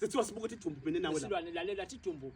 Sithiwa sibuka ukuthi idumbu mina nawe la. Silwane lalela thi idumbu.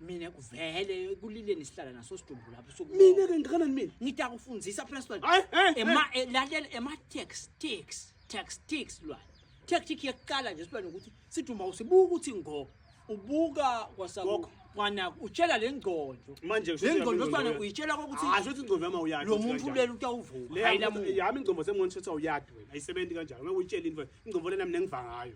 Mina kuvele kulileni sihlala naso sidumbu lapho sokuba. Mina ke ngikanani mina? Ngita kufundisa phela silwane. Hayi, hayi, Ema eh, lalela ema tactics, tactics silwane. Tactic yokuqala nje silwane ukuthi sidumba usibuka ukuthi ngo ubuka kwasaku Gogo. kwana utshela lengqondo. Manje kushuthi Lengqondo yami silwane ingqondo uyitshela ukuthi Ah, shuthi ingqondo yami awuyadi. lo ukuthi muntu kanjani. leli utawuvuka. Le Hayi yami- lamuka. yami ingqondo sengibona ukuthi awuyadi wena. Ayisebenzi kanjalo. Ngeke uyitshele into. Ingqondo lena mina ngiva ngayo.